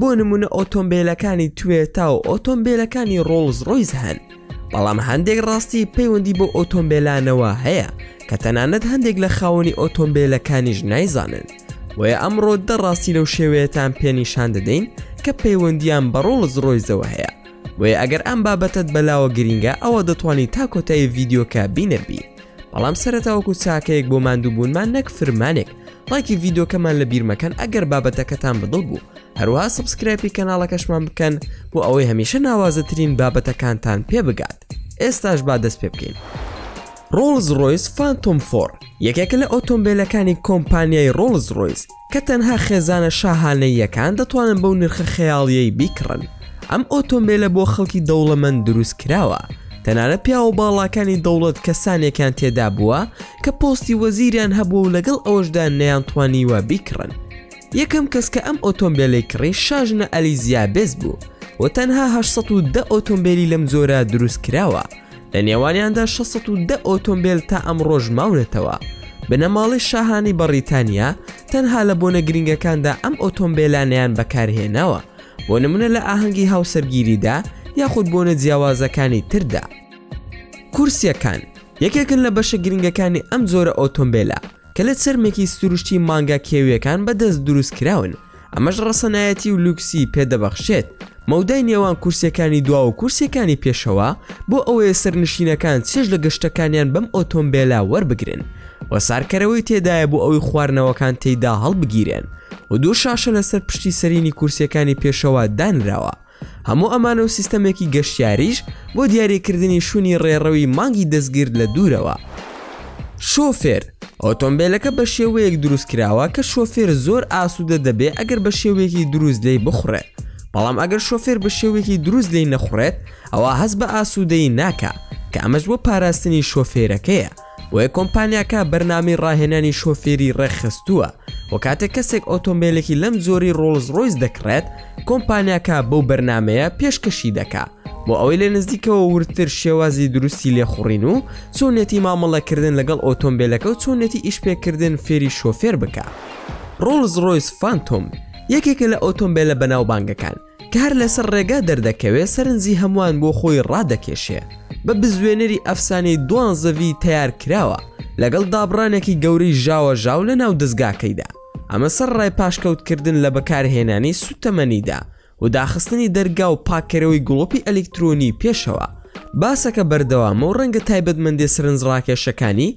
بۆ نمونە ئۆتۆمبیلەکانی توێتا و ئۆتۆمبیلەکانی ڕۆڵز ڕۆیز هەن بەڵام هەندێک ڕاستی پەیوەندی بۆ ئۆتۆمبیلانەوە هەیە کە تەنانەت هەندێک لە خاوەنی ئۆتۆمبیلەکانیش نایزانن بۆیە ئەمڕۆ دە ڕاستی لەو شێوەیەتان پێنیشان دەدەین کە پەیوەندیان بە ڕۆڵز ڕۆیزەوە هەیە بۆیە ئەگەر ئەم بابەتت بەلاوە گرینگە ئەوە دەتوانانی تا کۆتایی ڤیددیوکە بینەربی بەڵام سەرەتا وەکو چاکەیەک بۆ ماندووبوونمان نەک فرمانێک لایکی ڤیدۆکەمان لە بیرمەکەن ئەگەر بابەتەکەتان بەدڵ بوو هەروە سبسکرایپی کەناڵەکەشمان بکەن بۆ ئەوەی هەمیشە ناوازەترین بابەتەکانتان پێ بگات ئێستاش با دەست پێ بکەین ڕۆڵز ڕۆیس فانتۆم فۆر یەکێکە لە ئۆتۆمبیلەکانی کۆمپانیای ڕۆڵز ڕۆیس کە تەنها خێزانە شاهانەییەکان دەتوانن بەو نرخە خەیاڵییەی بیکڕن. ئەم ئۆتۆمبێلە بۆ خەڵکی دەوڵەمەند دروست کراوە، تەنانەت پیاوە باڵاکانی دەوڵەت کەسانێکیان تێدا بووە کە پۆستی وەزیریان هەبووە و لەگەڵ ئەوەشدا نەیانتوانیوە بیکڕن. یەکەم کەس کە ئەم ئۆتۆمبێلەی کڕی شاژنە ئەلیزیابێس بوو و تەنها هەشت سەد و دە ئۆتۆمبێلی لەم جۆرە دروست کراوە. لە نێوانیاندا 610 ئۆتۆمبیل تا ئەمڕۆژ ماونەتەوە بنەماڵی شاهانی بەڕیتانیا تەنها لە بۆنە گرنگەکاندا ئەم ئۆتۆمبیلانیان بەکارهێناوە بۆ نمونە لە ئاهەنگی هاوسەرگیریدا یاخود بۆنە جیاوازەکانی تردا کورسیەکان یەکێکن لە بەشە گرنگەکانی ئەم جۆرە ئۆتۆمبیلە کە لە چرمێکی سروشتی مانگا کێویەکان بەدەست دروست کراون ئەمەش ڕەسەنایەتی و لوکسی پێ دەبەخشێت. مەودای نێوان کورسیەکانی دوا و کورسیەکانی پێشەوە بۆ ئەوەیە سەرنشینەکان چێژ لە گەشتەکانیان بەم ئۆتۆمبێلە وەربگرن و سارکەرەوەی تێدایە بۆ ئەوی خواردنەوەکان تێیدا هەڵبگیرێن و دوو شاشە لەسەر پشتی سەرینی کورسیەکانی پێشەوە دانراوە هەموو ئەمانە و سیستەمێکی گەشتیاریش بۆ دیاریکردنی شوونی ڕێڕەوی مانگی دەستگرت لە دوورەوە. شۆفێر، ئۆتۆمبێلەکە بە شێوەیەک دروست کراوە کە شۆفێر زۆر ئاسوودە دەبێت ئەگەر بە شێوەیەکی دروست لێی بخوڕێت، بەڵام ئەگەر شۆفێر بە شێوەیەکی دروست لێی نەخوڕێت ئەوا هەست بە ئاسوودەیی ناکات کە ئەمەش بۆ پاراستنی شۆفێرەکەیە. بۆیە کۆمپانیاکە بەرنامەی ڕاهێنانی شۆفێری ڕێکخستووە و کاتێک کەسێک ئۆتۆمبیلێکی لەم جۆری ڕۆڵز ڕۆیس دەکڕێت کۆمپانیاکە بەو بەرنمەیە پێشکەشی دەکا بۆ ئەوەی لە نزیکەوە وردتر شێوازی دروستی لێخوڕین و چۆنێتی مامەڵەکردن لەگەڵ ئۆتۆمبیلەکە و چۆنێتی ئیشپێکردن فێری شۆفێر بکە ڕۆڵز ڕۆیس فانتۆم یەکێکە لە ئۆتۆمبیلە بەناوبانگەکان کە هەر لەسەر ڕێگا دەردەکەوێ سەرنجی هەموان بۆ خۆی ڕادەکێشێ بە بزوێنەری ئەفسانەی دوانزەڤی تەیار کراوە لەگەڵ دابڕانێکی گەورەی ژاوە ژاو لە ناو دەزگاکەیدا ئەمە سەر ڕای پاشکەوت کردن لە بەکارهێنانی سوتەمەنیدا و داخستنی دەرگا و پاکەرەوەی گڵۆپی ئەلیکترۆنی پێشەوە باسەکە بەردەوامە و ڕەنگە تایبەتمەندێ سەرنج ڕاکێشەکانی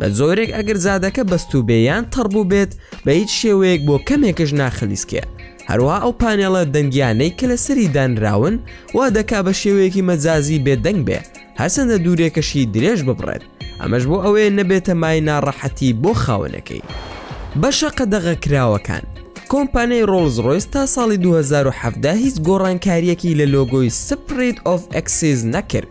بە جۆرێک ئەگەر جادەکە بەستوو بێ یان تەڕ بوو بێت بە هیچ شێوەیەک بۆ کەمێکش ناخلیسکێ هەروە ئەو پانێڵە دەنگیانەی کە لە سەری دانراون وا دەکا بە شێوەیەکی مەجازی بێدەنگ بێ هەرچەندە دوورێکەشی درێژ ببڕێت ئەمەش بۆ ئەوەیە نەبێتە مای ناڕەحەتی بۆ خاونەکەی بەشە قەدەغە کراوەکان کۆمپانیای ڕۆڵز ڕۆیس تا ساڵی 2017 هیچ گۆڕانکاریەکی لە لۆگۆی سپریت ئۆف ئەکسیز نەکرد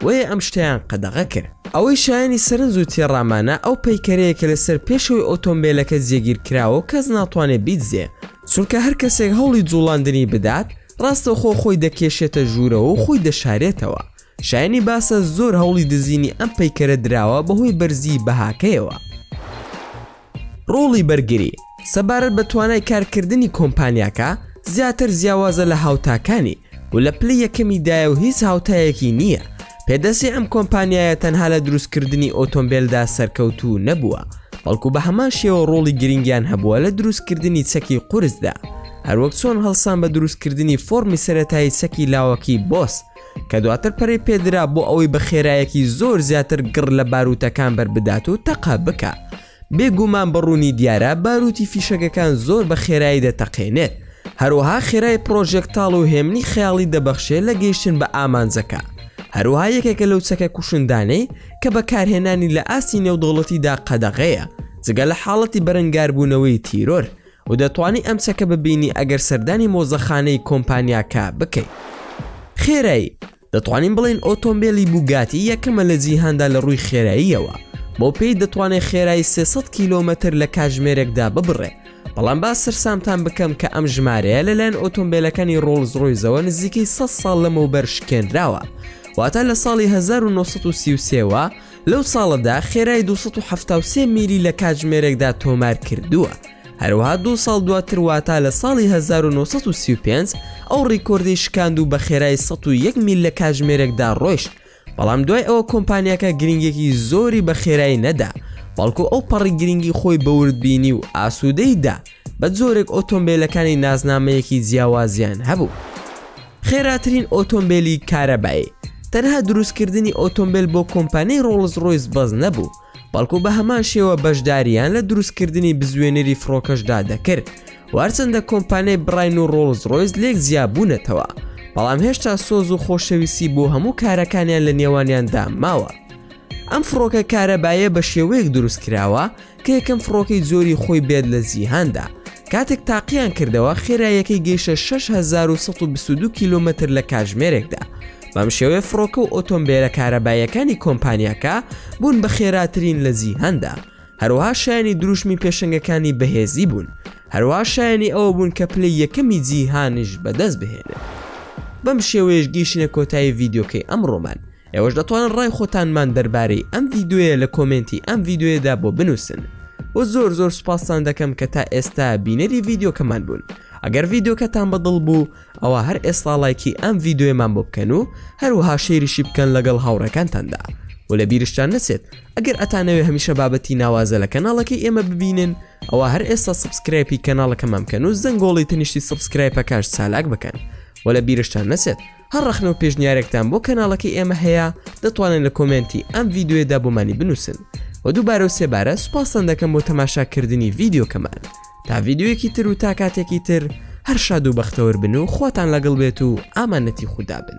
بۆیە ئەم شتەیان قەدەغە کرد. ئەوەی شایەنی سەرنج و تێڕامانە ئەو پەیکەرەیە کە لەسەر پێشەوەی ئۆتۆمبێلەکە جێگیر کراوە و کەس ناتوانێت بیدزێ چونکە هەر کەسێک هەوڵی جوڵاندنی بدات ڕاستەوخۆ خۆی دەکێشێتە ژوورەوە و خۆی دەشارێتەوە شایەنی باسە زۆر هەوڵی دزینی ئەم پەیکەرە دراوە بەهۆی بەرزیی بەهاکەیەوە. ڕۆڵی بەرگری، سەبارەت بە توانای کارکردنی کۆمپانیاکە، زیاتر جیاوازە لە هاوتاکانی و لە پلەی یەکەمی دایە و هیچ هاوتایەکی نییە. پێدەچێ ئەم کۆمپانیایە تەنها لە دروستکردنی ئۆتۆمبێلدا سەرکەوتوو نەبووە، بەڵکو بە هەمان شێوە ڕۆڵی گرنگیان هەبووە لە دروستکردنی چەکی قورسدا، هەروەک چۆن هەڵسان بە دروستکردنی فۆرمی سەرەتایی چەکی لاوەکی بۆس، کە دواتر پەرەی پێدرا بۆ ئەوەی بە خێرایەکی زۆر زیاتر گڕ لە باروتەکان بەربدات و تەقە بکا بێگومان بە ڕوونی دیارە باروتی فیشەکەکان زۆر بە خێرایی دەتەقێنێت هەروەها خێرای پرۆژێکتاڵ و هێمنی خەیاڵی دەبەخشێ لە گەیشتن بە ئامانجەکە هەروها یەکێکە لەو چەکە کوشندانەی کە بەکارهێنانی لە ئاستی نێودەوڵەتیدا قەدەغەیە جگە لە حاڵەتی بەرەنگاربوونەوەی تیرۆر و دەتوانی ئەم چەکە ببینی ئەگەر سەردانی مۆزەخانەی کۆمپانیاکە بکەی خێرایی دەتوانین بڵین ئۆتۆمبیلی بوگاتی یەکەمە لە جیهاندا لە ڕووی خێراییەوە بۆ پێی دەتوانێت خێرایی 300 کیلۆمەتر لە کاژمێرێکدا ببڕێ بەڵام با سەرسامتان بکەم کە ئەم ژمارەیە لەلایەن ئۆتۆمبیلەکانی ڕۆڵز ڕۆیزەوە نزیکەی 100 ساڵ لەمەوبەر شکێنراوە واتە لە ساڵی 1933وە لەو ساڵەدا خێرای دوو سەد و حەفتا و سێ میلی لە کاتژمێرێکدا تۆمار کردووە، هەروەها دوو ساڵ دواتر واتە لە ساڵی هەزار و نۆ سەد و سی و پێنج ئەو ڕیکۆردەی شکاند و بە خێرای سەد و یەک میل لە کاتژمێرێکدا ڕۆیشت، بەڵام دوای ئەوە کۆمپانیاکە گرنگێکی زۆری بە خێرای نەدا، بەڵکو ئەو پەڕی گرنگی خۆی بە وردبینی و ئاسوودەیی دا. بە جۆرێک ئۆتۆمبێلەکانی نازنامەیەکی جیاوازیان هەبوو خێراترین ئۆتۆمبێلی کارەبایی تەنها دروستکردنی ئۆتۆمبێل بۆ کۆمپانیی ڕۆڵز ڕۆیس بەز نەبوو بەڵکو بە هەمان شێوە بەشداریان لە دروستکردنی بزوێنەری فڕۆکەشدا دەکرد وارچەندە کۆمپانیای بڕین و ڕۆڵز ڕۆیس لێک جیابوونەتەوە بەڵام هێشتا سۆز و خۆشەویستی بۆ هەموو کارەکانیان لە نێوانیاندا ماوە ئەم فڕۆکە کارەبایە بە شێوەیەک دروست کراوە کە یەکەم فڕۆکەی جۆری خۆی بێت لە جیهاندا، کاتێک تاقییان کردەوە خێراییەکەی گەیشتە شەش هەزار و سەد و بیست و دوو کیلۆمەتر لە کاژمێرێکدا، بەم شێوەیە فڕۆکە و ئۆتۆمبێلە کارەباییەکانی کۆمپانیاکە بوون بە خێراترین لە جیهاندا، هەروەها شایەنی دروشمی پێشەنگەکانی بەهێزی بوون، هەروەها شایەنی ئەوە بوون کە پلەی یەکەمی جیهانیش بەدەست بهێنن. بەم شێوەیەش گەیشتینە کۆتایی ڤیدیۆکەی ئەمڕۆمان، ئێوەش دەتوانن ڕای خۆتانمان دەربارەی ئەم ڤیددیویە لە کۆمێنتی ئەم ڤیددیویەدا بۆ بنووسن و زۆر زۆر سوپاستان دەکەم کە تا ئێستا بینەری ڤیددیوکەمان بوون ئەگەر ڤیددیوکەتان بەدڵ بوو ئەوە هەر ئێسڵاڵایکی ئەم ڤیددیوێمان بۆ بکەن و هەروەها شێریشی بکەن لەگەڵ هاوڕەکانتاندا و لە بیرشتان نەچێت ئەگەر ئەتانەوێ هەمیشە بابەتی ناوازە لە کەناڵەکەی ئێمە ببینن ئەوە هەر ئێستا سبسکرایپی کەناڵەکەمان بکەن و زەنگۆڵی تەنیشتی سبسکرایپەکەش چالاک بکەن و لە بیرشتان نەچێت هەر ڕەخنەو پێشنیارێکتان بۆ کەناڵەکەی ئێمە هەیە دەتوانن لە کۆمێنتی ئەم ڤیدیۆیەدا بۆمانی بنووسن وە دووبارەو سێبارە سوپاستان دەکەم بۆ تەماشاکردنی ڤیدیۆکەمان تا ڤیدیۆیەکی تر و تا کاتێکی تر هەر شاد و بەختەوەربن و خواتان لەگڵ بێت و ئامانەتی خودا بن.